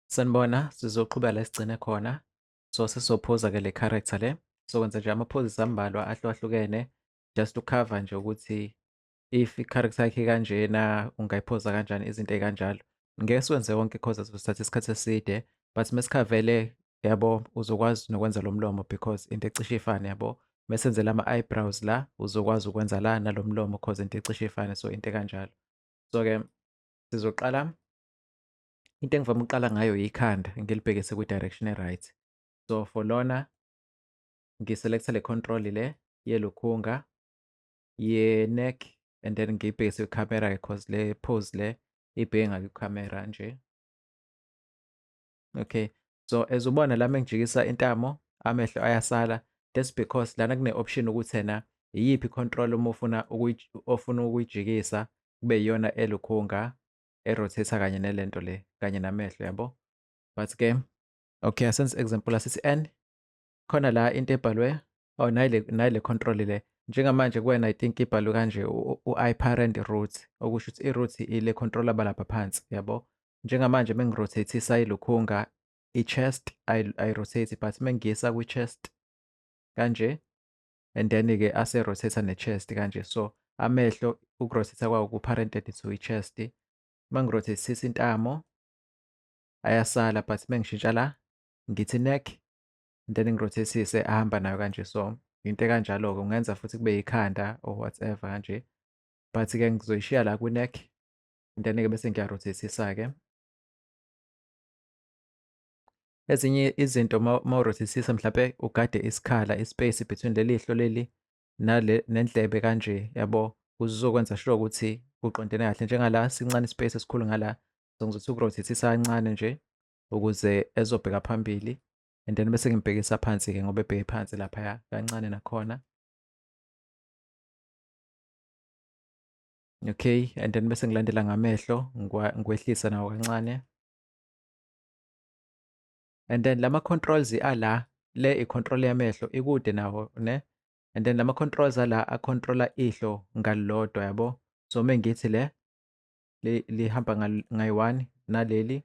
Sanibona, sizoqhubela sigcine khona. So sesizophuza ke le character le. Sokwenza nje amaphozisi ambalwa ahlukahlukene just to cover nje ukuthi if i-character yakhe kanjena ungayiphoza kanjani izinto ey'kanjalo. Ngeke siwenze wonke cause sizothatha isikhathi eside but mesikhavele yabo uzokwazi nokwenza lo mlomo because into ecishe ifane yabo. Mesenzela ama-eyebrows la uzokwazi ukwenza la nalo mlomo cause into ecishe ifane so into ekanjalo. So-ke sizoqala into engivame ukuqala ngayo ikhanda ngilibhekise kwi-direction e-right so for lona ngiselekte le control le yelukhunga ye-neck and then ngiyibhekise kwikhamera because le pose le ibheke ngakwikhamera nje okay so as ubona lami engijikisa intamo amehlo ayasala that's because lana kune-option ukuthi ena iyiphi i-control uma ufuna ofuna ukuyijikisa kube iyona elukhunga erotate kanye nelento le kanye namehlo yabo but ke okay asenze example asithi n khona la into ebhalwe oh nayile nayile control le njengamanje kuwena i think ibhalwe kanje u-iparent root okusho ukuthi i-root ile controller balapha phansi yabo njengamanje mengirotatisa ilukhunga i-chest ayi-rotate but mengiyisa kwi-chest kanje and then-ke ase-rotate-a ne-chest kanje so amehlo uku-rotate-a kwawo ku-parented to i-chest uma ngi-rotate-sisa intamo ayasala but uma ngishintsha la ngithi neck and then ngi-rotate-sise ahamba nayo kanje so into ekanjalo-ke ungenza futhi kube yikhanda or whatever kanje but-ke ngizoyishiya la kwi-neck and then-ke bese ngiya-rotate-sisa-ke ezinye izinto mawurothisisa mhlampe ugade isikhala ispace between leli hlo leli nale nendlebe kanje yabo uzokwenza sure ukuthi kuqondene kahle njengala sincane ispace esikhulu ngala so ngizothi ukurothisisa kancane nje ukuze ezobheka phambili and then bese ngimbhekisa phansi-ke ngoba ebheke phansi laphaya kancane nakhona okay and then bese ngilandela ngamehlo ngikwehlisa nawo kancane and then lama controls ala le i control yamehlo ikude nawo ne and then lama controls ala a controller ihlo ngalilodwa yabo so mengithi le lihamba ngayi-one naleli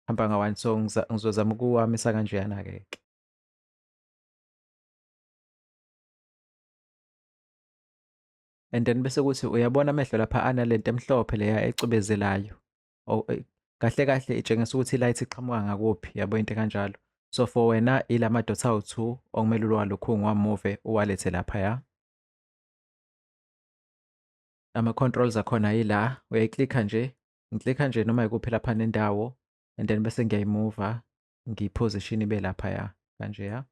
hamba nga-one so ngizozama ukuwamisa kanjeyana-ke ke and then bese kuthi uyabona amehlo lapha analento emhlophe leya ecubezelayo oh, eh, kahle kahle itshengisa ukuthi ilight iqhamuka ngakuphi yabo into kanjalo so for wena ilama dots awu-2 okumele ulwalukhungu wamuve uwalethe lapha ya ama-controls akhona yila uyayiklikha nje ngiklikha nje noma yikuphi lapha nendawo and then bese ngiyayimuva ngiyiposition ibe lapha ya kanje ya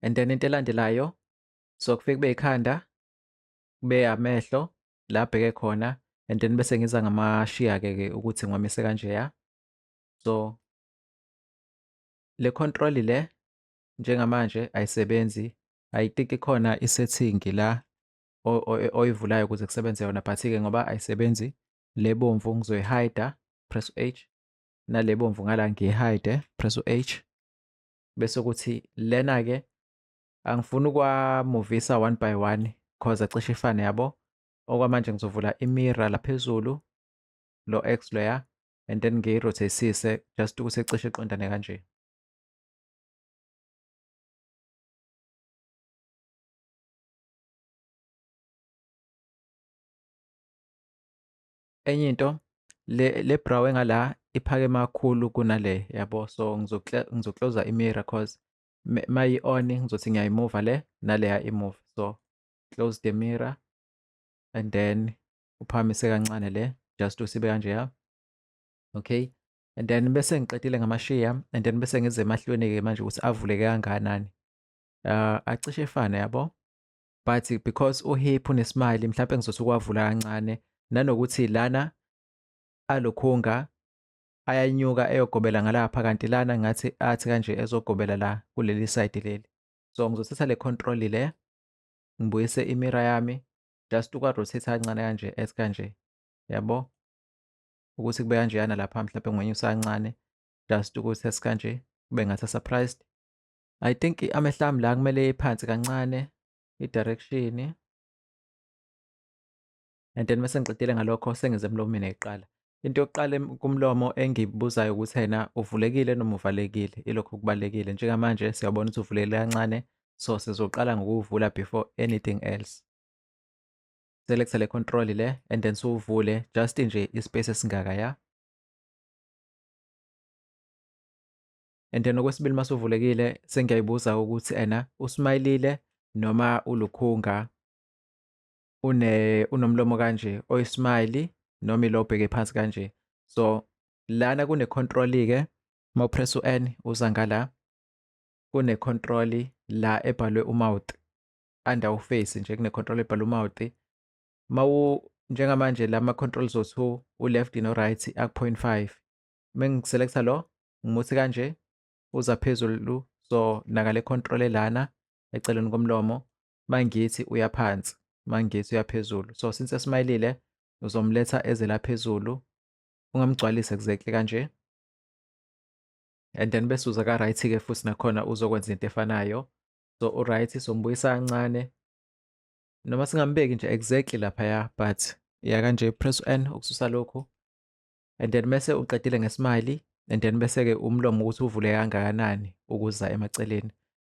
and then into elandelayo so kufike kube ikhanda kube amehlo la abheke khona and then bese ngiza ngamashiya-ke ke ukuthi ngiwamise kanjeya so le control le njengamanje ayisebenzi ayitiki khona isetting la oyivulayo ukuze kusebenze yona but-ke ngoba ayisebenzi le bomvu ngizoyihayida press u-h nale bomvu ngala ngiyihayide press u-h bese ukuthi lena-ke angifuni ukwamuvisa one by one cause acishe ifane yabo okwamanje ngizovula imira laphezulu lo x loya and then ngiyirothesise just ukuthi ecishe iqondane kanje enye into le le brow engala iphakeme kakhulu kunale yabo so ngizokloza imira cause mayi on ngizothi ngiyayimova le naleya imove so close the mirror and then uphamise kancane le just usibe kanjeya okay and then bese ngiqedile ngamashiya and then bese ngize emahlweni-ke manje ukuthi avuleke kangakanani uh, acishe efane yabo but because uhip unesmile mhlawumbe ngizothi ukwavula kancane nanokuthi lana alokhunga ayanyuka eyogobela ngalapha kanti lana ngathi athi kanje ezogobela la kuleli side leli so ngizothatha le control le ngibuyise imira yami just ukwa rotate kancane kanje as kanje yabo ukuthi kube kanjeyana lapha mhlawumbe ngwenyusa kancane just ukuthi esikanje kube ngathi surprised i think amehla ami la kumele iphansi kancane i-direction and then mese ngiqedile ngalokho sengize emlomini eqala into yokuqala kumlomo engibuzayo ukuthi yena uvulekile noma uvalekile ilokho kubalekile njengamanje siyabona ukuthi uvulekile kancane so sizoqala ngokuwuvula before anything else selecta le control le and then siwuvule just nje ispace esingaka ya and then okwesibili masuvulekile sengiyayibuza ukuthi ena usmayilile noma ulukhunga une unomlomo kanje oyismile noma ilo obheke phansi kanje so lana kune control ke uma upress u-n uza ngala kune control la ebhalwe umouth under uface nje kune control ebhalwe umouth mawu njengamanje lama controls owu u-left no right aku-0.5 mengiselecta lo ngimuthi kanje uza phezulu so nakale control elana eceleni komlomo mangithi uya phansi mangithi uya phezulu so since esmayilile uzomletha eze la phezulu ungamgcwalisi exactly kanje and then bese uza ka right ke futhi nakhona uzokwenza into efanayo so u right sombuyisa kancane noma singambeki nje exactly lapha ya but ya kanje press n ukususa lokhu and then mese uqedile ngesmile and then bese ke umlomo ukuthi uvule kangakanani ukuza emaceleni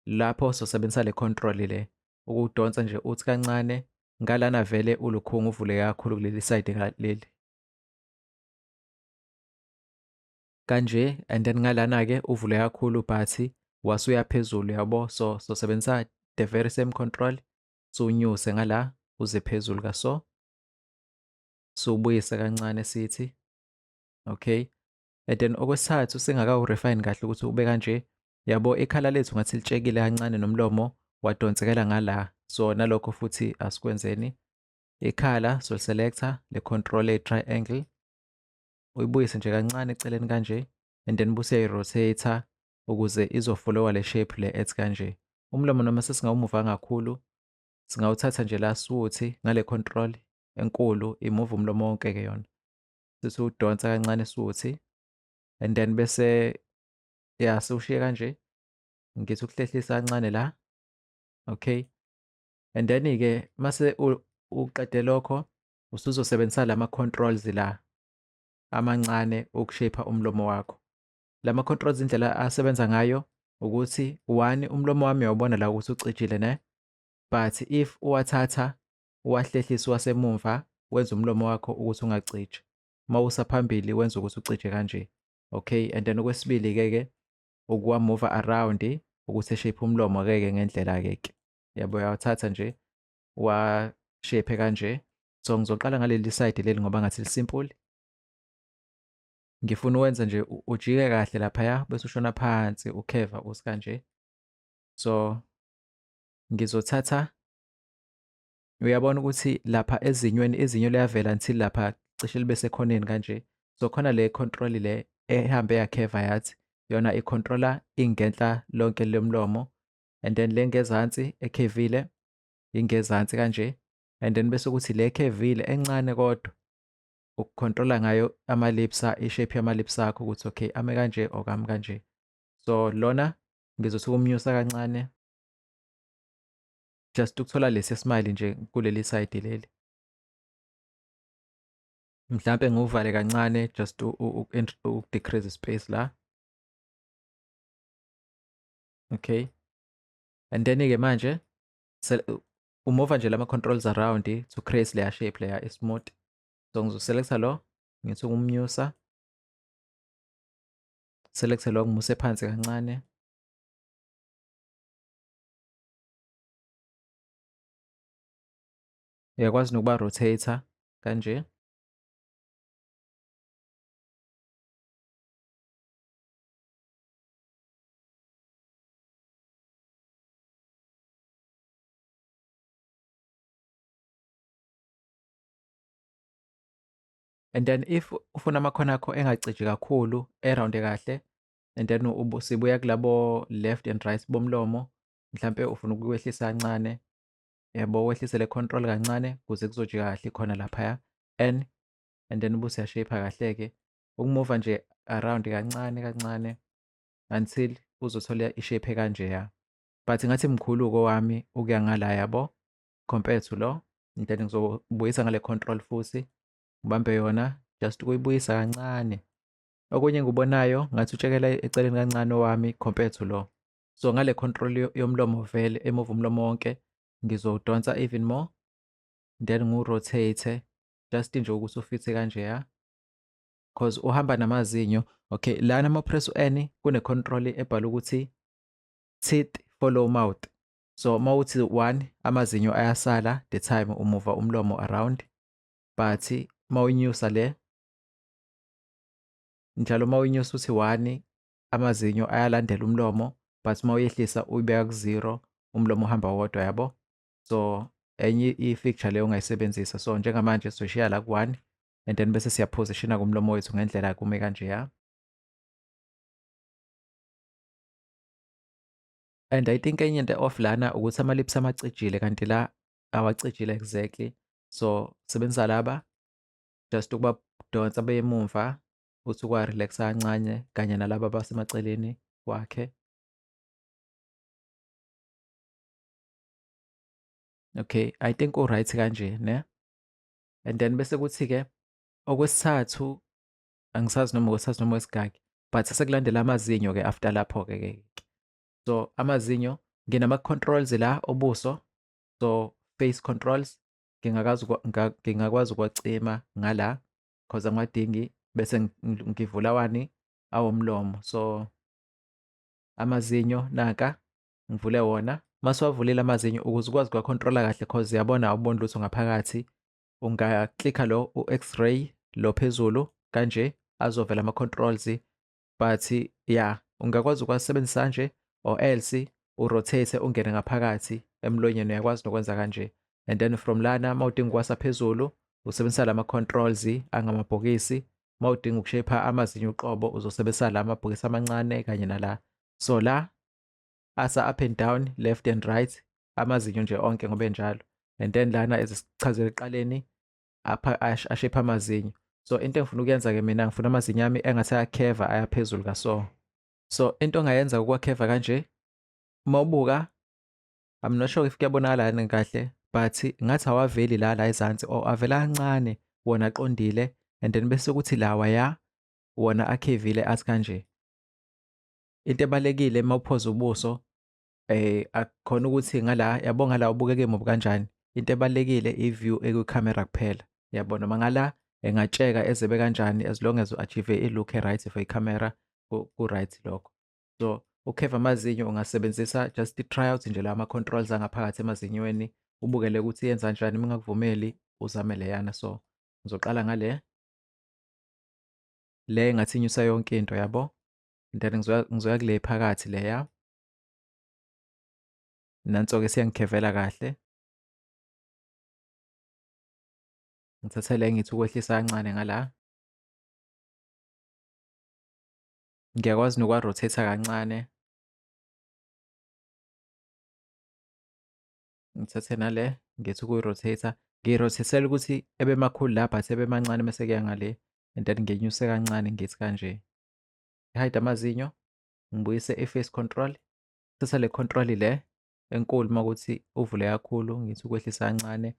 lapho sosebenzisa le control le ukuwudonsa nje uthi kancane ngalana vele ulukhunga uvuleke kakhulu kuleli side ngaleli kanje and then ngalana ke uvule kakhulu ubhathi wasuya phezulu yabo so sosebenzisa the very same control siwunyuse ngala uze phezulu kaso siwubuyise kancane sithi okay and then okwesithathu singakawurefine kahle ukuthi ube kanje yabo ikhala lethu ngathi litshekile kancane nomlomo wadonsekela ngala so nalokho futhi asikwenzeni ikhala so selector le control a triangle uyibuyise nje kancane eceleni kanje and then buse rotator ukuze izofolowa le shape le ethi kanje umlomo noma sesingawumuva kakhulu singawuthatha nje la siwuthi ngale control enkulu imove umlomo wonke ke yona sesiwudonsa kancane suthi and then bese ya siwushiye kanje ngithi ukuhlehlisa kancane la okay and then ke mase uqede lokho usuzosebenzisa lama controls la amancane ukushape umlomo wakho lama controls indlela asebenza ngayo ukuthi one umlomo wami uyawubona la ukuthi ucijile ne but if uwathatha uwahlehlisa wasemumva wenza umlomo wakho ukuthi ungacije uma usa phambili wenza ukuthi ucije kanje okay and then okwesibili ke ke ukuwa move around ukuthi shape umlomo ke ke ngendlela ke ke yabo uyawuthatha nje wa shape kanje so ngizoqala ngaleli side leli ngoba ngathi lisimple ngifuna uwenza nje ujike kahle lapha ya bese ushona phansi ukheva usikanje so ngizothatha Uyabona ukuthi lapha ezinyweni izinyo liyavela until lapha cishe libe sekhoneni kanje. So khona le control le ehambe yakheva yathi yona icontrola ingenhla lonke lomlomo and then le ngezansi ekhevile ingezansi kanje and then bese ukuthi le ekhevile encane kodwa ukucontrola ngayo ama-lips ishape yama-lips akho ukuthi okay ame kanje or kami kanje so lona ngizothi ukumnyusa kancane just ukuthola lesi smile nje kuleli side leli mhlampe nguvale kancane just ukudecrease space la okay and then ke manje umova nje lama controls around to create layer shape layer smooth so ngizoselecta lo ngithi ukumnyusa select lo ngimuse phansi kancane uyakwazi nokuba rotator kanje and then if ufuna amakhono akho engacije kakhulu erawunde kahle and then sibuya kulabo left and right bomlomo mhlampe ufuna ukukwehlisa kancane yabo wehlise le control kancane kuze kuzojika kahle khona laphaya and and then ubuse yashape kahle-ke ukumuva nje around kancane kancane until uzothola ishape kanjeya but ngathi mkhulu kowami ukuya ngala yabo compared to lo then ngizobuyisa ngale control futhi ubambe yona just ukuyibuyisa kancane okunye ngikubonayo ngathi utshekela eceleni kancane owami compared to lo so ngale control yomlomo vele emove umlomo wonke ngizowudonsa even more then ngiwurotate just nje ukuthi ufithe kanje ya cause uhamba namazinyo okay lana ama-press u-n kune-control ebhala ukuthi teeth follow mouth so uma uthi one amazinyo ayasala the time umuva umlomo around but uma uyinyusa le njalo uma uyinyusa uthi one amazinyo ayalandela umlomo but uma uyehlisa uyibeka ku-zero umlomo uhamba wodwa yabo so enye i-fixture leyo ongayisebenzisa so njengamanje soshiya la ku-one and then bese siyaphosishina kumlomo wethu ngendlela kume kanjeya and i think enye into off lana ukuthi ama-lips amacijile kanti la awacijile exactly so sebenzisa laba just ukubadonsa beyemumva ukuthi ukwa-relax-a kancane kanye nalaba abasemaceleni kwakhe. Okay, I think u-right kanje ne? And then bese kuthi-ke okwesithathu angisazi noma okwesithathu noma okwesingaki but sekulandela amazinyo-ke after lapho-ke ke. So amazinyo nginama-controls la obuso, so face controls ngingakwazi ngingakwazi ukuwacima ngala cause angiwadingi bese ngivula wani awomlomo so amazinyo naka ngivule wona masiwavulile amazinyo ukuze ukwazi kuwakhontrola kahle cause yabona awuboni lutho ngaphakathi ungaklikha lo u-x-ray lo phezulu kanje azovela ama-controls but ya yeah, ungakwazi ukwasebenzisa kanje or else urotate ungene ngaphakathi emlonyeni uyakwazi nokwenza kanje and then from lana uma udinga ukwasa phezulu usebenzisa la ma-controls angamabhokisi uma udinga ukushepha amazinyo uqobo uzosebenzisa la mabhokisi amancane kanye nala so la asa up and down left and right amazinyo nje onke ngobe njalo and then lana ezisichazele eqaleni apha ashepha amazinyo so into engifuna ukuyenza-ke mina ngifuna amazinyo ami engathi ayakheva ayaphezulu kaso so into ongayenza ukwakheva kanje uma ubuka i'm not sure if kuyabonakala yini kahle but ngathi awaveli la la ezansi or avela kancane wona aqondile and then bese kuthi lawa ya wona akhevile athi kanje into ebalekile uma uphoza ubuso eh akukhona ukuthi ngala yabo ngala ubukeke mubi kanjani into ebalekile i-view ekwi-camera kuphela yabo noma ngala engatsheka ezebe kanjani as long as u-achieve i-look e-right for i-camera ku-right lokho so ukheva amazinyo ungasebenzisa just i-try out nje la ama-controls angaphakathi emazinyweni ubukele ukuthi yenza njani uma ngakuvumeli uzame leyana so ngizoqala ngale le ngathi inyusa yonke into yabo then ngizoya kule phakathi leya Nanso-ke siyangikhevela kahle. Ngithathe le ngithi ukwehlisa kancane ngala. Ngiyakwazi nokwa-rotate-a kancane. Ngithathe nale ngithi ukuyi-rotate-a. Ngiyi-rotate-ela ukuthi ebe makhulu la but ebe mancane mese kuya ngale and then ngenyuse kancane ngithi kanje. Ngihayide amazinyo. ngibuyise i-face control thatha le control le enkulu uma ukuthi uvule kakhulu ngithi ukwehlisa kancane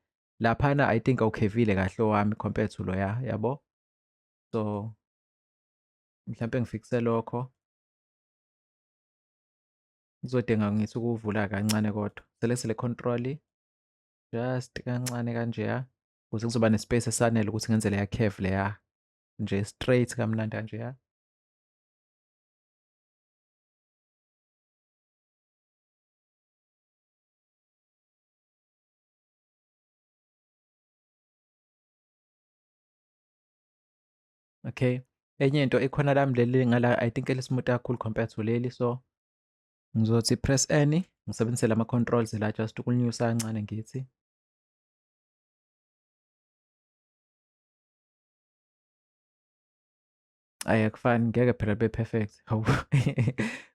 laphana i think awukhevile kahle owami compared to loya yabo so mhlawumpe ngifikise lokho ngizodinga ngithi ukuvula kancane kodwa selekthi le control just kancane kanjeya ukuze kuzoba nespace esanele ukuthi ngenzele ya curve leya nje straight kamnandi kanjeya Okay. Enye into ikhona lami leli ngala I think elismuta kakhulu compared to leli so ngizothi press N ngisebenzise lama controls la just ukunyusa kancane ngithi. ayi akufani ngeke phela be perfect hawu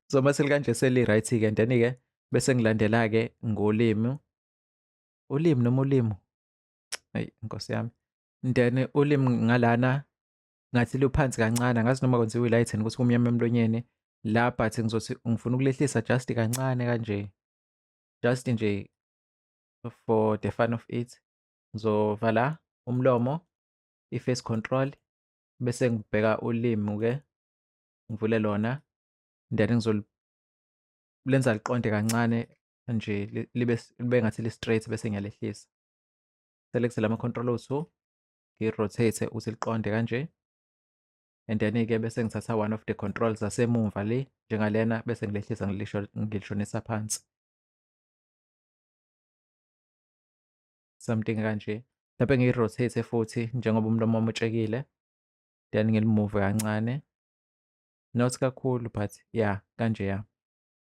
so uma selikanje seli right ke and then ke bese ngilandela ke ngolimi ulimi noma ulimi ayi inkosi yami then ulimi ngalana ngathi luphansi kancane ngazi noma kwenziwe lighten ukuthi kumnyama emlonyeni la but ngizothi ngifuna ukulehlisa just kancane kanje just nje for the fun of it ngizovala umlomo i-face control bese ngibheka ulimi ke ngivule lona then lenza liqonde kancane nje libe libe ngathi li straight bese ngiyalehlisa select lama control o2 ngi rotate ukuthi liqonde kanje and then ke bese ngithatha one of the controls zasemumva le njengalena bese ngilehlisa ngilisho ngilishonisa phansi something kanje mhlawumbe ngiyi-rotate futhi njengoba umlomo wami utshekile then ngilimuve kancane not kakhulu but yeah kanje ya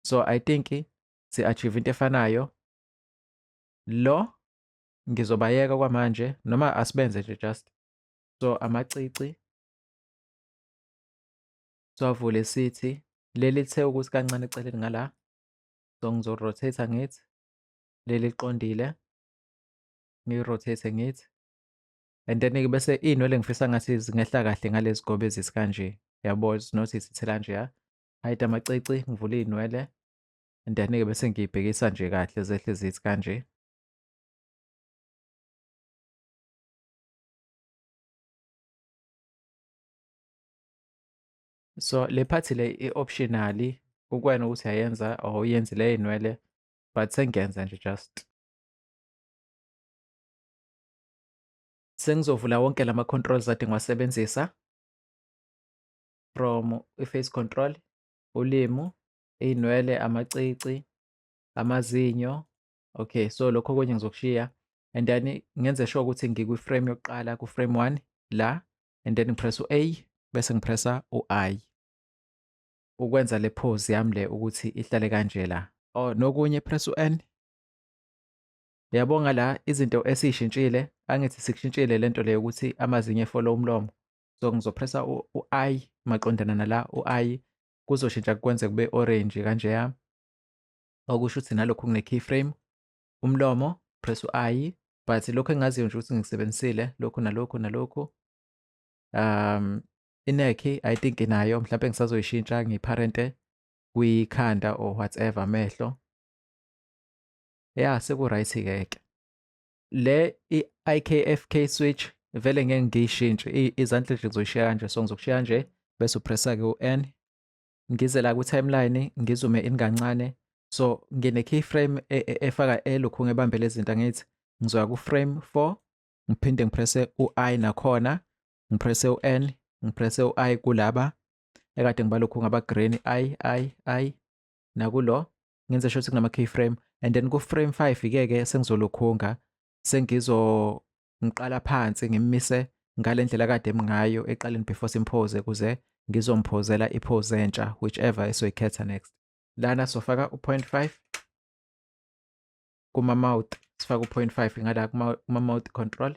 so i think si-achieve into efanayo lo ngizobayeka kwamanje noma asibenze nje just so amacici siwavule sithi leli lithe ukuthi kancane eceleni ngala so ngizorotate ngithi leli liqondile ngiyi-rotate ngithi and then-ke bese iy'nwele ngifisa ngathi zingehla kahle ngalezi gobe ezisi kanje yabo zinothi zithela nje ya hide amacici ngivule iy'nwele and then-ke bese ngiyibhekisa nje kahle zehle zithi kanje So le phathi le i-optionally kukwena ukuthi yayenza or uyenzile iy'nwele but sengiyenza nje just sengizovula wonke lama controls ade ngiwasebenzisa from i-face control ulimu iy'nwele amacici amazinyo okay so lokho okunye ngizokushiya and then ngenze sure ukuthi ngikwi-frame yokuqala ku-frame one la and then ngipressa u-a bese ngipressa u-i ukwenza le pose yami le ukuthi ihlale kanje la oh nokunye press u-n yabonga la izinto esiyishintshile angithi sikushintshile lento leyo ukuthi amazinyo efollow umlomo so ngizopressa u-i maqondana nala u-i kuzoshintsha kwenze kube orange kanjeya okusho ukuthi nalokhu kune keyframe umlomo press u-i but lokhu engaziyo nje ukuthi ngisebenzisile lokhu nalokhu nalokhu um inekhi i think inayo mhlawumbe ngisazoyishintsha ngiparente kwikhanda or whatever amehlo ya seku-right ke ke le i-ikfk switch vele ngeke ngiyishintshe izandla nje ngizoyishiya kanje so ngizokushiya nje bese upressa-ke u-n ngize la kwi-timeline ngizume in kancane so ngine-keyframe e, e, efaka elokhu ngebambele izinto angithi ngizoya ku-frame 4 ngiphinde ngipresse u-i nakhona ngiprese u-n ngiprese u-i kulaba ekade ngibalokhu ngaba-green i i i nakulo ngenze sho ukuthi kunama-key frame and then ku-frame five ke-ke sengizolokhunga sengizomuqala phansi ngimmise ngale ndlela kade ngayo eqaleni before simphoze kuze ngizomphozela iphoze entsha whichever esoyikhetha next lana sofaka u-point five kuma-mouth sifake u-point five ngala kuma-mouth control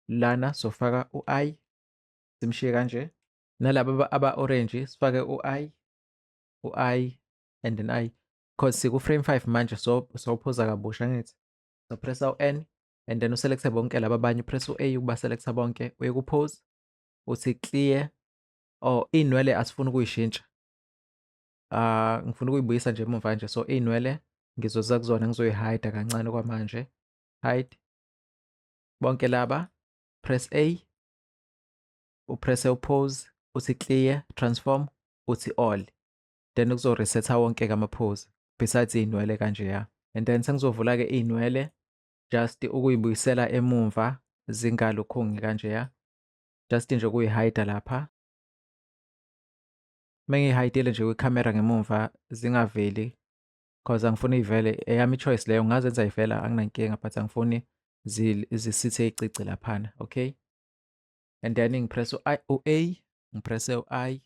lana sofaka u-i simshiye kanje nalaba aba-orange sifake u-i u-i and then i because siku-frame 5 manje so sophoza kabusha ngithi sopressa u-n and then uselekthe bonke laba abanye upress u-a ukubaselektha bonke uye kupose uthi clear or oh, iy'nwele asifuni ukuyishintsha Ah, ngifuna ukuyibuyisa nje emuva nje. So iy'nwele ngizoza kuzona ngizoyi-hide-a kancane okwamanje. Hide. bonke laba press A upress upose uthi clear transform uthi all then kuzo resetha wonke ke amapose besides inwele kanje ya and then sengizovula ke inwele just ukuyibuyisela emumva zingalukhungi kanje ya just nje kuyihide lapha mengihidele nje kwicamera ngemumva zingaveli cause angifuni ivele eyami choice leyo ngazenza ivela anginankinga but angifuni zisithe icici laphana okay and then ngipress u-a ngipresse u-i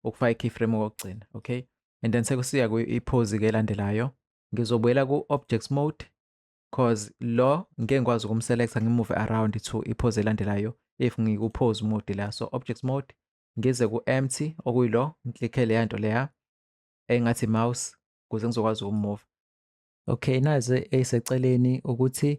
ukufaka i-keyframe kokugcina okay and then sekusiya kwi-pose ke elandelayo ngizobuyela ku-objects mode cause lo ngeke ngikwazi ukumselecta ngimove around to iphoze elandelayo if ngikuphoze mode la so objects mode ngize ku-empty okuyilo ngiklikke leya nto leya engathi mouse ukuze ngizokwazi ukumove okay naze eseceleni ukuthi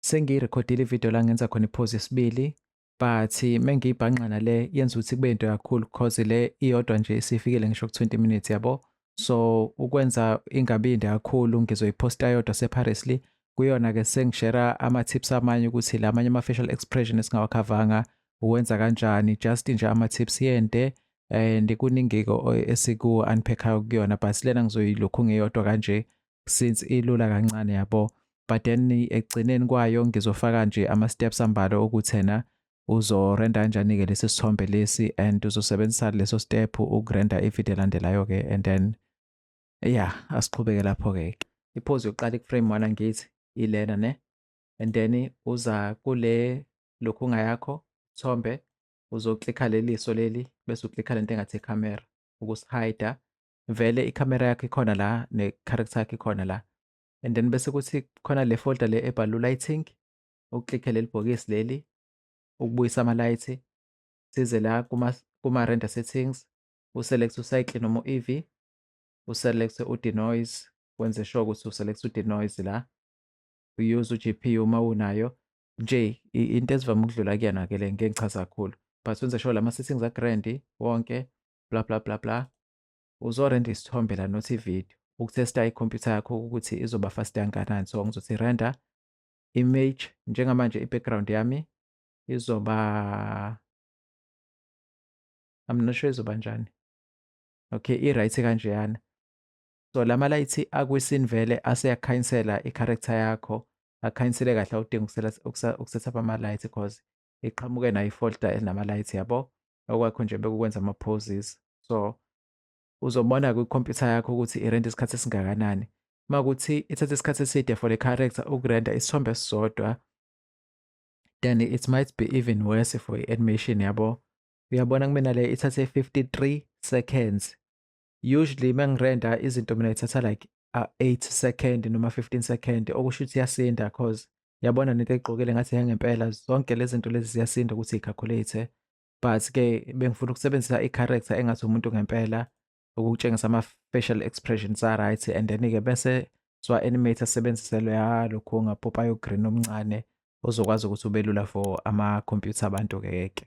sengiyirekhodile ividiyo la ngenza khona iphozi yesibili but mengiyibhanqa nale yenza ukuthi kube into kakhulu because le iyodwa nje isifikile ngisho ku-20 minutes yabo so ukwenza ingabindi kakhulu ngizoyiposta yodwa separely kuyona-ke sengishera ama-tips amanye ukuthi la amanye ama-facial expression esingawakhavanga uwenza kanjani just nje ama-tips yente and kuningiko esiku unpackayo kuyona but lena ngizoyilokhu ngeyodwa kanje since ilula kancane yabo but then ekugcineni kwayo ngizofaka nje ama steps ambalwa okuthena uzorenda kanjani-ke lesi sithombe lesi and uzosebenzisa leso step ukurenda ivideo elandelayo-ke and then ya asiqhubeke lapho-ke iphozi yokuqala ikuframe one angithi ilena ne and then uza kule lokhu ngayakho thombe uzoklikha leliso leli bese uklikha lento engathi camera ukusihida vele icamera yakho ikhona la ne-character yakho ikhona la and then bese kuthi khona le folder le ebhalwe lighting uklikhe leli bhokisi leli ukubuyisa ama-light size la kuma-render settings uselect ucycle noma u-ev uselect u-denoise wenze sure ukuthi uselect u-denoise la uyuse u-gpu uma unayo nje into ezivame ukudlula kuyena ke le ngeke ngichaza kakhulu but wenze sure lama settings a grand wonke bla bla bla bla uzorenda isithombe la not ivideo ukutesta ikhompyutha yakho ukuthi izoba fast kangakanani so ngizothi render image njengamanje i-background yami izoba I'm not sure izoba njani okay i-right kanjeyana so la malayithi akwisini vele aseyakukhanyinsela i-character yakho akukhanyisele kahle awudingi ukusetha up amalayithi because iqhamuke nayo ifolda elinamalayithi yabo okwakho nje bekukwenza ama-poses so uzobona kwikhompyutha yakho ukuthi irenta isikhathi esingakanani uma kuthi ithatha isikhathi eside for the character ukurenta isithombe esisodwa then it might be even worse for i-animation yabo uyabona kumina le ithathe 53 seconds usually mengirenda izinto mina ithatha like uh, 8 second noma 15 second okusho ukuthi yasinda cause yabona nento egqokile ngathi yangempela zonke lezi zinto lezi ziyasinda ukuthi i-calculate but ke bengifuna ukusebenzisa i-character engathi umuntu ngempela ukutshengisa ama-facial expressions a-right and then-ke bese siwa-animate asebenzise loya lokhu ongapopayo green omncane ozokwazi ukuthi ubelula for ama-computer abantu-ke ke